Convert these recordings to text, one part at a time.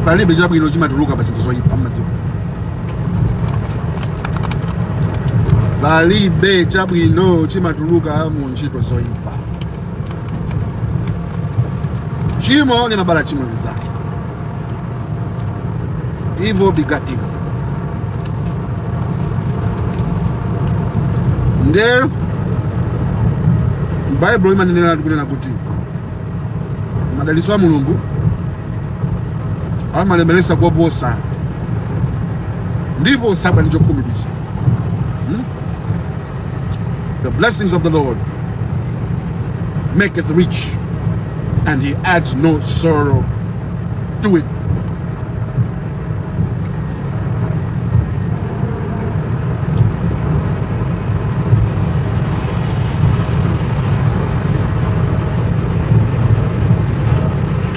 palibe chabwino chimatuluka pa zinthu zoyipa mmadziwa palibe chabwino chimatuluka mu ntchito zoyipa chimo limabala chimo linzake evil begets evil nde baibulo limanenera tikunena kuti madalitso a mulungu amalemeresa koposa ndipo sakhala ndi chokhumudwitsa hmm? the blessings of the lord maketh rich and he adds no sorrow to it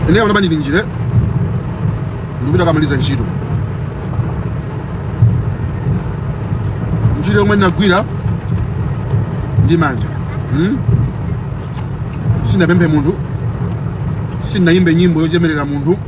ine ona bani ndinjire ndikupita kukamaliza ntchito ntchito yomwe ndinagwira ndi manja hmm? sindinapemphe munthu sindinayimbe nyimbo yochemerera munthu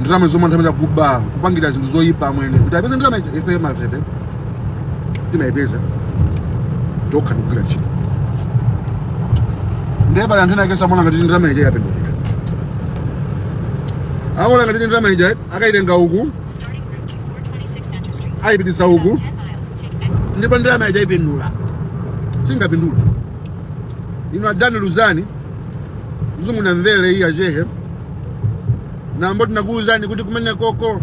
ndalama zomwe anthu amakuba kupangira zinthu zoyipa amwene kuti apeze ndalama ife mavete timayipeza tokha ndikugwira ntchito ndiye pali anthu ena akesa amona ngati ndalama ija yapindulira amaona ngati ndalama ija akayitenga uku ayipititsa uku ndipo ndalama ija ipindula singapindula ino adani luzani zungu na mvele iyi achehe nambo tinakuuzani kuti kumene koko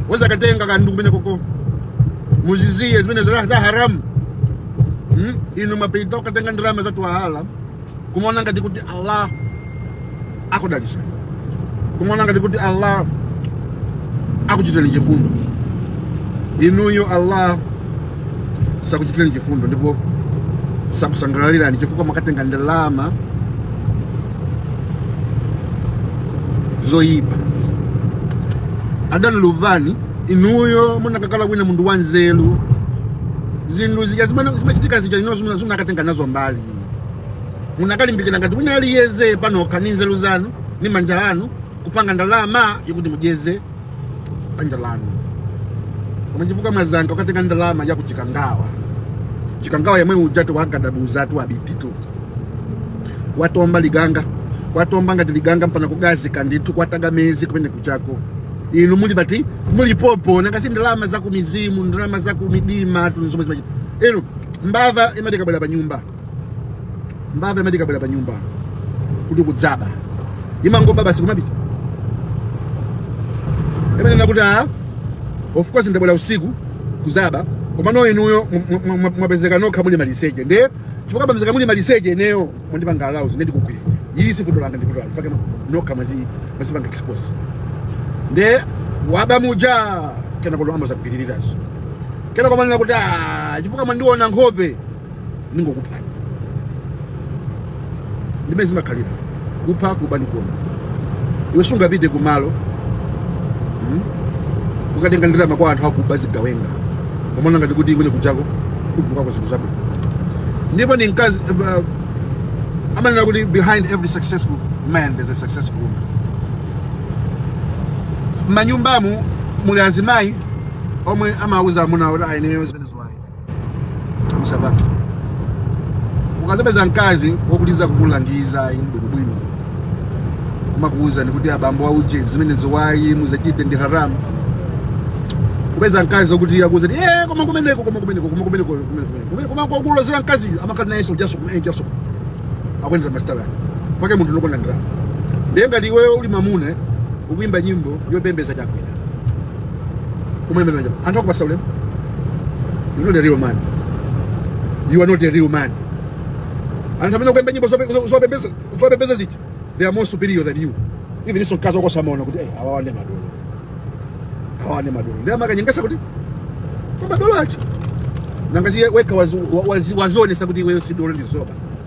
wazakatenga kandu kumene koko muziziye zimene za za haramu hmm? inu mwapita kukatenga ndalama za twahala kumaona ngati kuti allah akudalitsani kumaona ngati kuti allah akuchitirani chifundo inuyo allah sakuchitirani chifundo ndipo sakusangalalirani chifukwa mwakatenga ndalama zoyipa adani luvani inuyo munakakhala kwina munthu wa nzeru zinthu zija zimene zimachitika zija ino zimene munakatenga nazo mbali munakalimbikira ngati wina aliyense panokha ni nzeru zanu ni manja anu kupanga ndalama yokuti mudyetse banja lanu koma chifukwa mwasankha kukatenga ndalama ya kuchikangawa chikangawa yemwe ujatu wagadabuuzatu abititu kwatomba liganga kwatomba ngati liganga mpaka kugazika ndithu kwataga mezi kumene kuchako inu muli pati muli popo nanga si ndalama za kumizimu ndalama za kumidima tuni zomwe zimachita inu mbava imati ikabwera pa nyumba mbava imati ikabwera pa nyumba kuti kudzaba imangoba basi kumapita imanena kuti a of course ndabwera usiku kuzaba komano inuyo mwa- mwa- mwa- mwapezeka nokha muli maliseche nde chifukwa pamezeka muli maliseche ineyo mwandipanga arouse nde ndikugwira ili si vuto langa ndi vuto lanu chifukwa nokha mwazi mwazipanga expose nde waba muja kenakono amazakugwiririrazo kenako kumanena kuti "Ah, chifukwa mwandiona nkhope ningokuphani ndi mmene zimakhalira kupha kuba ndi kuononga iwe sungapite kumalo hmm? ukatenga ndalama kwa anthu akuba zigawenga umaona ngati kuti iwe ukuchokako kutulukako zinthu zabwino ndipo ni mkazi uh, amanena kuti behind every successful man there's a successful woman manyumbamu muli azimayi omwe amauza amuna kuti ayi ineyo zimene musapange ukazapeza mkazi wokuuza kukulangiza inu bwinobwino kumakuwuzani kuti abambo auje zimenezi ayi musachite ndi haramu upeza mkazi wokuti akuwuza kuti "Eh, koma kumeneko koma kumeneko koma kumeneko koma kumeneko." koma kwakulozera mkaziyo amakhala nayenso jasuku eh, jasuku akuyendera masitayilo ake chifukwa munthu wokonda ndalama ndiye ngati iweyo uli mamuna ukuyimba nyimbo yopembeza Chakwera kumayembekeza mwina anthu akupasa ulemu you are not a real man you are not a real man anthu amene akuimba nyimbo zope- zo- zopembeza zopembeza ziti they are more superior than you even ndiso mkazi wako samaona kuti eh, awawa ndi madolo awawa ndi madolo nde amakanyengesa kuti kwa madolo acho nanga si iwe wekha wazi- wa- wazi- wazionetsa kuti iweyo si dolo ndi zoba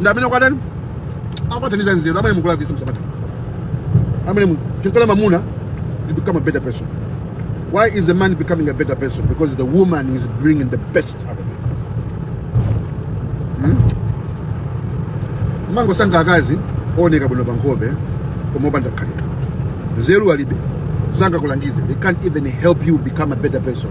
nde mene mukwatirana mukuthandizana nzeru amene mukulakwisa msabata amene mu- mukakhala mamuna you become a better person why is a man becoming a better person because the woman is bringing the best out of him mumangosankha akazi ooneka bwino pankhope koma opanda khalidwe nzeru alibe sangakulangize they can't even help you become a better person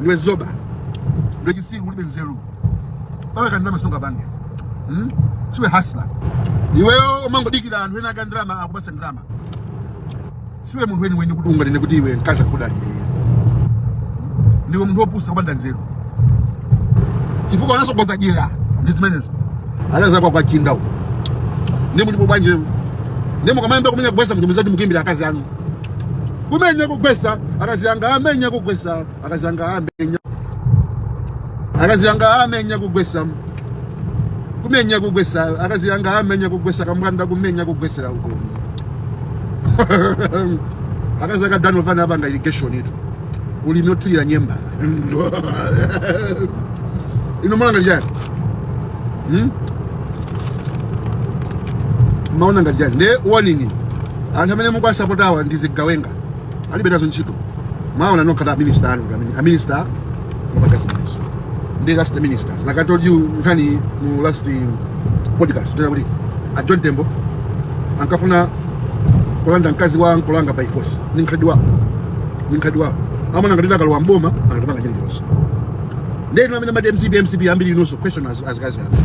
ndiwe zoba ndiwe chitsiru ulibe nzeru pawekha ndalama sungapange hmm? siwe hasla iweyo umangodikira anthu ena aka ndalama akupatsa ndalama siwe munthu weniweni kuti unganene kuti iwe mkazi akudalire ndiwe munthu wopusa kupanda nzeru chifukwa unatsogoza dyera ndi zimenezo anaweza kwa kwachinda huko nemu ndipo bwanje nemu kama mbe kumenya kubwesa mtumizaji mkimbira akazi anu kumenya kugwesa akazi anga amenya kugwesa akazi anga amenya akazi anga amenya kugwesa kumenya kugwesa akazi anga amenya kugwesa kamwanda kumenya kugwesera uko akazi aka dano vana abanga irrigation itu ulimi othirira nyemba ino mulanga chani hmm? maona ngati chani nde warning anthu amene mukuwasapotawa ndi zigawenga alibe nazo ntchito maona nokha aminister anu aminister amagazimazo ndi last the ministers like i told you nkhani mu last podcast tinanena kuti a john tembo ankafuna kulanda mkazi wa nkolanga by force ni nkhalidwe wawo ni nkhalidwe wawo amaona ngati akalowa mboma anatapanga chilichonse Ndiye inu amene mumati MCP MCP ambiri inunso question azikazi anu.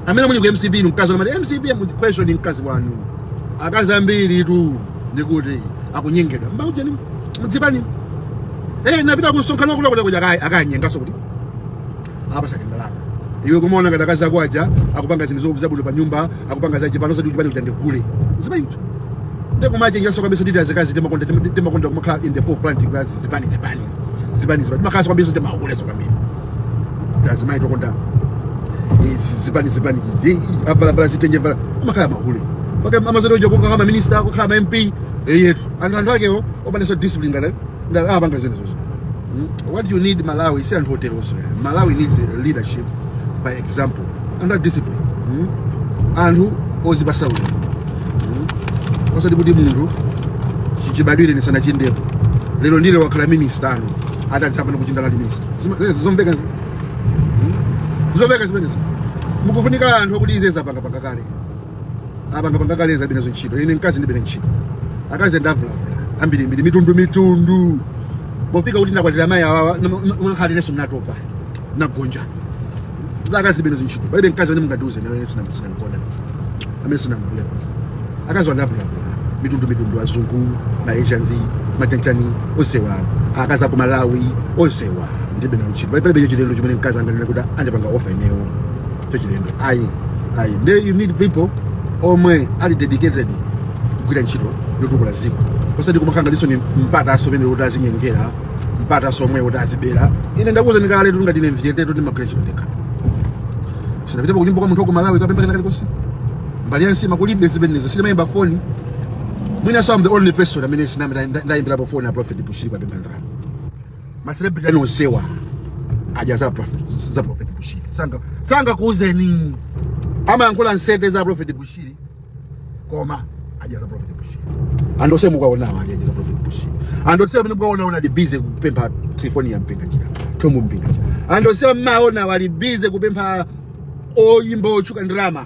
Amene muli ku MCP inu mkazi mumati MCP mu question mkazi wanu. Akazi ambiritu ndikuti akunyengedwa. Mmaujeni mdzipani. Eh napita ku msonkhano kula kula kuja kaya akanyengaso kuti. Aapasa tindalama. Iwe kumaona ngati akazi ako aja akupanga zinthu zo- zabwino pa nyumba akupanga zache pano sadi kuchipani kuchande hule ziba yutu ndeko mache nyaso kabisa dita zikazi tema konda tema konda kumakha in the forefront kukazi zipani zipani zipani zipani makaso kabisa tema hule so kabisa kazi mai tokonda zipani zipani avala vala zitenje vala makaya mahule faka amazodi oja kokha ma minister kokha ma MP eyetu anthu anthu akewo obaneso discipline ngale ndale apanga zimenezozo Mm. what you need malawi si anthu oteroso malawi needs a leadership by example anthu a discipline Mm. anthu ozipasa ulemu Mm. osati kuti munthu chibadwireni sanachindepo lero ndiye wakhala minista ano atadzapana kuchindala ndi minista Zima- zimenezo zomveka zi- Mm. zomveka zimenezo mukufunika anthu akuti izizi apangapanga kale apanga panga kale alibe nazo ntchito ine mkazi ndilibe naye ntchito akazi ndavulavula ambirimbiri mitundu mitundu pofika kuti ndakwatira mayi awawa unakhalireso mnatopa nagonja akazi ndilibe nazo ntchito palibe mkazi amene mungatiuze nawe sinamgona amene sinamvulepo akaziwa ndavulavula mitundu mitundu azungu maasians machanichani onsewa akazi aku malawi onsewa ndilibe nawo ntchito palibe chilendo chimene mkazi anganene kuti andipanga offer ineyo chachilendo ayi ayi nde you need people omwe ali dedicated kugwira ntchito yotukula dziko osati kumakhala ngatinso ni mpata asomene kuti azinyengera mpata asomwe kuti azibera ine ndakuwuzani kale kuti ngati ine mviyete kuti magwira ntchito ndekha sinapitapo kunyumba kwa munthu wa ku malawi kukapempha kena kalikonse mbali yansi makulibe zimenezo sindimayimba foni mwina so i'm the only person amene sinamira ndayimbirapo foni a prophet bushiri kukapempha ndalama maselebrity anu onsewa adya za prof- za prophet bushiri sanga sanga kuuzeni amayankhula nsete za prophet bushiri koma adya za prophet bushiri anthu onse mukuwaonawo adya za prophet bushiri anthu onse amene mukuwaona anali busy kupempha telefoni ya mpinganjira thom mpinganjira anthu onse mmaonawa ali busy kupempha oyimba otchuka ndalama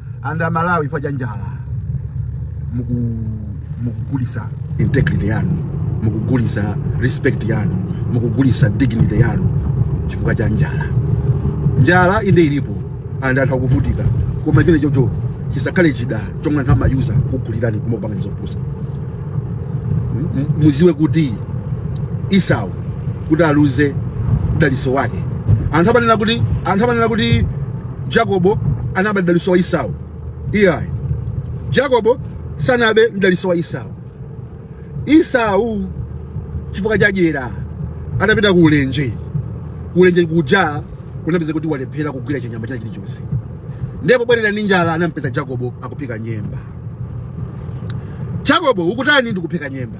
and amalawi chifukwa cha njala mukugulisa integrity yanu mukugulisa respect yanu mukugulisa dignity yanu chifukwa cha njala njala inde ilipo and anthu akuvutika koma chimenechocho chisakhale chida chomwe anthu amayuza kukugulirani kumapanga zopusa muziwe kuti esau kuti aluze mdaliso wake anthu amanena kuti anthu amanena kuti Jacobo anaba mdalitso wa Esau. Iyayi. Jacobo sanabe mdalitso wa Esau. Esau chifukwa cha dyera anapita ku ulenje. Ku ulenje kuja kunapeza kuti walephera kugwira chinyama china chilichonse. Ndi pobwerera ndi njala anampeza Jacobo akupika nyemba. Jacobo ukutani ndikupika nyemba.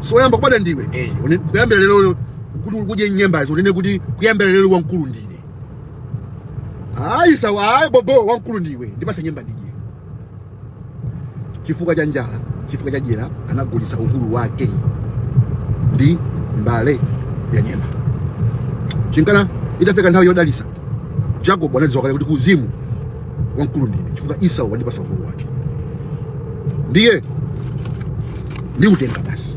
so woyamba kubadwa ndiwe eh, une- kuyambira lero kuti ukadye nyembazo unene kuti kuyambira lero wamkulu ndine a Esau ayi bobo wamkulu ndiwe ndipase nyemba ndidye chifukwa cha njala chifukwa cha dyera anagulitsa ukulu wake ndi mbale ya nyemba chinkana itafika nthawi yodalisa Jacob anadziwa kale kuti ku uzimu wamkulu ndine chifukwa Esau wandipasa ukulu wake ndiye ndiutenga basi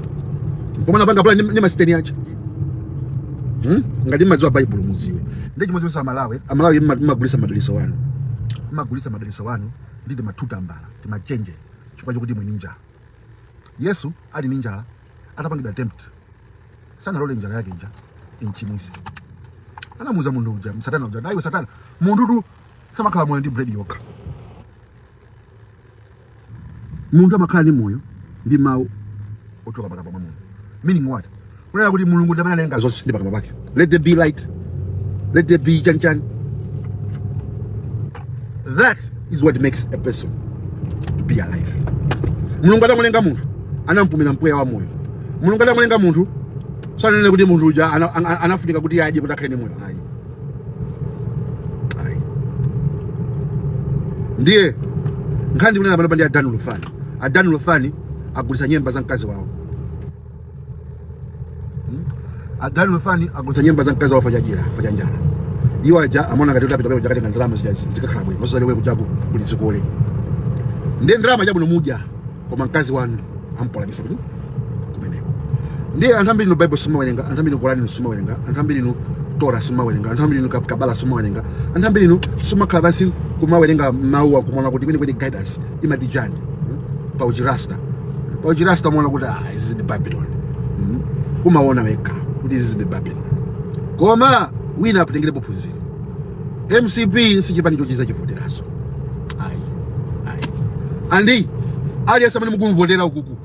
mpomwe anapanga pulani masiteni aja hmm? ngati mmadziwa baibulo muziwe ndi chimodzimodzinso amalawi amalawi mmagulisa madaliso anu mmagulisa madaliso anu ndi tima two tambala timachenje chifukwa chokuti muli ni nja yesu ali ndi njala atapangidwa tempt sanalole njala yake ija imchimwise anamuuza munthu uja satana uja daiwe satana munthutu samakhala moyo ndi bread yokha munthu amakhala ndi moyo ndi mawu ochoka pakamwa pa mulungu meaning what kunena kuti mulungu ndi amene analenga zonse ndi pakamwa pake let there be light let there be chanichani that is what makes a person be alive mulungu atamulenga munthu anampumira mpweya wa moyo mulungu atamulenga munthu sananene kuti munthu uja ana- ana- anafunika kuti adye kuti akhale ndi moyo ayi ayi ndiye nkhani ndikunena panopa ndi a Dan Lufani a Dan Lufani agulitsa nyemba za mkazi wawo a Dan Lufani agulitsa nyemba za mkazi wawo chifukwa cha dyera chifukwa cha njala iwo aja amaona ngati kuti apita pamene paja akatenga ndalama zija zikakhala bwino osadziwa kujaku kuli zikole ndiye ndalama chabwino mudya koma mkazi wanu ampolanisa kuti kumeneko ndi anthu ambiri inu bible simmawerenga anthu ambiri inu korani inu simmawerenga anthu ambiri inu tora simmawerenga anthu ambiri inu Kab- kabala simmawerenga anthu ambiri inu simmakhala pansi kumawerenga mawuwa kumaona kuti kwenikweni guidance imati chani mm? pa uchirasta pa uchirasta umaona kuti ah, izi ndi babylon mm? umaona wekha kuti izi ndi babylon koma wina apatengerepo phunziro mcp sichipani choti uzachivoteraso ayi ayi and aliyense amene mukumvotera ukuku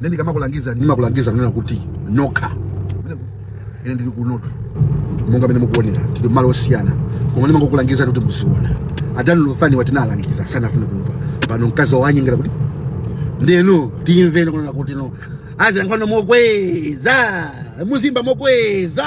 Nde ndikamakulangiza ndimakulangiza kunena kuti nokha ine ndili kunotu monga mmene mukuonera tili mmalo osiyana koma ndimangokulangiza kuti muziona a Dan Lufani awa tinawalangiza sanafuna kumva pano mkazi wanyengera kuti ndeno timvene kunena kuti no azilankhulano mokweza muziimba mokweza